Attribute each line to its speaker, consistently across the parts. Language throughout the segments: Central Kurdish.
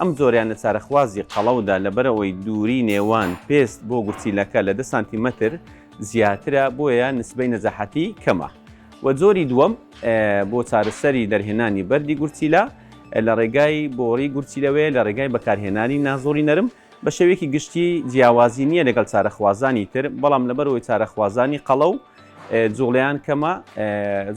Speaker 1: ئەم جۆرەیان لە چارەخوازی قەڵەودا لەبەرئەوەی دووری نێوان پێست بۆ گورچیلەکە لە دە سانتیمەتر زیاترە بۆیە نسبەی نەجاحەتی کەمە و جۆری دووەم بۆ چارەسەری دەرهێنانی بەردی گورچیلە لە ڕێگای بۆڕی گورچیلەوەیە لە ڕێگای بەکارهێنانی نازۆری نەرم بە شێوەیەکی گشتی جیاوازی نییە لەگەڵ چارەخوازانی تر بەڵام لەبەرەوەی چارەخوازانی قەڵە و جوڵیان کەمە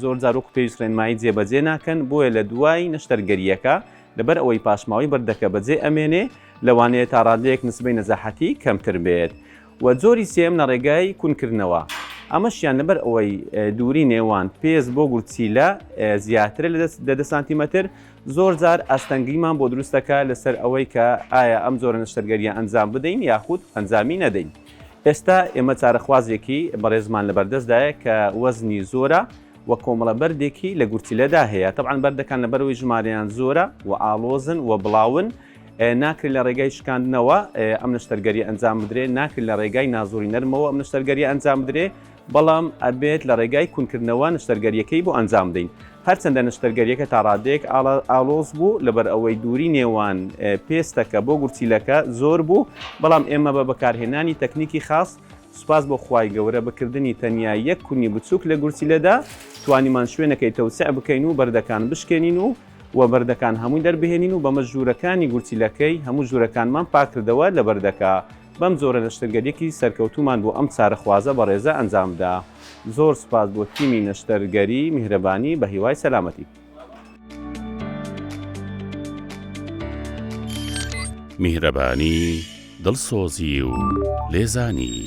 Speaker 1: زۆر زارۆک پێویست ڕێنمایی جێبەجێ ناکەن بۆیە لە دوای نەشتەرگەریەکە لەبەر ئەوەی پاشماوەی بەردەکە بەجێ ئەمێنێ لەوانەیە تا ڕادەیەک نسبەی نەزاحەتی کەمتر بێت و جۆری سێیەم لە ڕێگای کون کردنەوە ئەمەشیان لەبەر ئەوەی دووری نێوان پێست بۆ گورچیلە زیاترە لە دە دە سانتیمەتر زۆر جار ئاستەنگیمان بۆ دروست دەکات لەسەر ئەوەی کە ئایا ئەم جۆرە نەشتەرگەریە ئەنجام بدەین یاخود ئەنجامی نەدەین. ئێستا ئێمە چارەخوازێکی بەڕێزمان لەبەردەستدایە کە وەزنی زۆرە و کۆمەڵە بەردێکی لە گورچیلەدا هەیە تەبعەن بەردەکان لەبەرەوەی ژمارەیان زۆرە و ئاڵۆزن و بڵاون ناکرێت لە ڕێگای شکاندنەوە ئەم نەشتەرگەری ئەنجام بدرێت ناکرێت لە ڕێگای نازۆری نەرمەوە ئەم نەشتەرگەری ئەنجام بدرێت بەڵام ئەبێت لە ڕێگای کونکردنەوە نشتەرگەریەکەی بۆ ئەنجام دەین هەرچەندە نشتەرگەریەکە تا ڕادێک ئاڵۆز بوو لەبەر ئەوەی دووری نێوان پێستەکە بۆ گورچیلەکە زۆر بوو بەڵام ئێمە بە بەکارهێنانی تەکنیکی خاص سوپاس بۆ خوای گەورە بە کردنی تەنیا یەک کونی بچووک لە گورچیلەدا توانیمان شوێنەکەی تەوسع بکەین و بەردەکان بشکێنین و و بەردەکان هەمووی دەربهێنین و بەمەش ژوورەکانی گورچیلەکەی هەموو ژوورەکانمان پاک کردەوە لە بەردەکە بەم جۆرە نەشتەرگەریەکی سەرکەوتوومان بۆ ئەم چارەخوازە بەڕێزە ئەنجامدا زۆر سوپاس بۆ تیمی نەشتەرگەری میهرەبانی بەهیوای سەلامەتی.
Speaker 2: میهرەبانی، دڵسۆزی و لێزانی.